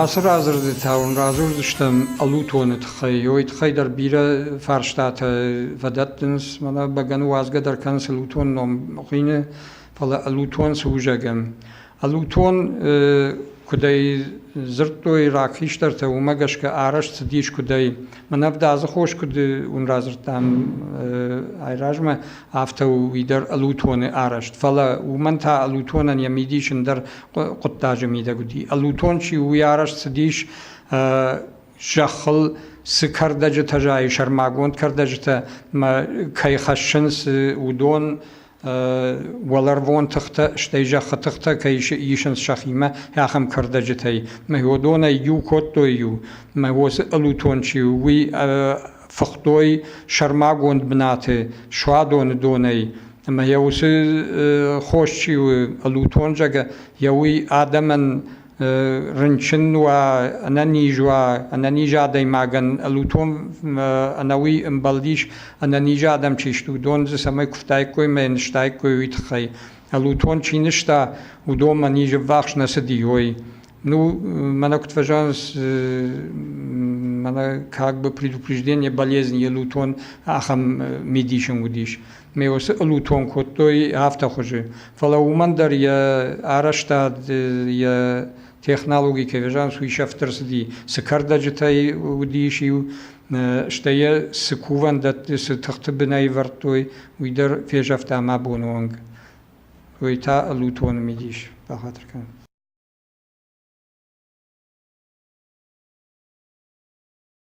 Ацы радзырдытӕ уын радзурдзыстӕм ӕлутоны тыххӕй. Ой тыххӕй дӕр бирӕ фарстатӕ фӕдӕттынц, мӕнӕ бӕгӕны уадзгӕ дӕр кӕнынц ӕлутон ном хъины, фӕлӕ ӕлутон цы у зӕгъӕм. Ӕлутон кудӕй дзырдтой рагхистӕртӕ, уымӕ гӕсгӕ арӕзт цыдис кудӕй. Мӕн ӕвдадзы хос куыд уын радзырдтам айразмӕ, афтӕ у и дӕр ӕлутоны арӕзт. Фӕлӕ уымӕн та ӕлутонӕн йӕ мидис ӕндӕр хъуыддаджы мидӕг уыди. Ӕлутон чи у, уый арӕзт цыдис зӕххыл цы кӕрдӕджытӕ зайы, сӕрмагонд кӕрдӕджытӕ мӕ кӕй хӕссынц, уыдон уӕларвон тыхтӕ, стӕй зӕххы тыхтӕ кӕй исынц сӕхимӕ, ахӕм кӕрдӕджытӕй. Мӕ уыдонӕй иу кодтой-иу, мӕ уосы ӕлутон чи у, уый фыхтой сӕрмагонд бынаты суадоны донӕй. Ӕмӕ йӕ уыцы хос чи у, ӕлутон зӕгӕ, йӕ уый адӕмӕн рынчын уа, ӕнӕниз уа, ӕнӕниз адӕймагӕн ӕлутон ӕнӕуи ӕмбӕлдис ӕнӕниз адӕм чи сты, уыдон дзы цӕмӕй куывтаиккой мӕ ныстаиккой, уый тыххӕй. ӕлутон чи нызта, уыдон мӕ низы ввахс нӕ цыди, ой. Ну, мӕнӕ куыд фӕзӕгъынц, мӕнӕ как бы предупреждение болезни, елутон ахӕм мидисын уыдис. ме уыцы ълутон кодтой афтӕ хуызы, фӕлӕ уымӕн дӕр йӕ арӕзтад, йӕ технологи кӕвезан суисӕфтдӕр цыди, цы кӕрдӕджытӕй уыдис иу, стӕй йӕ цы кувӕндӕтты, цы тыхты бынӕвӕрдтой, уый дӕр фезӕфта мӕ боны онг. Уый та ълутоны мидис бахатыр кӕнын.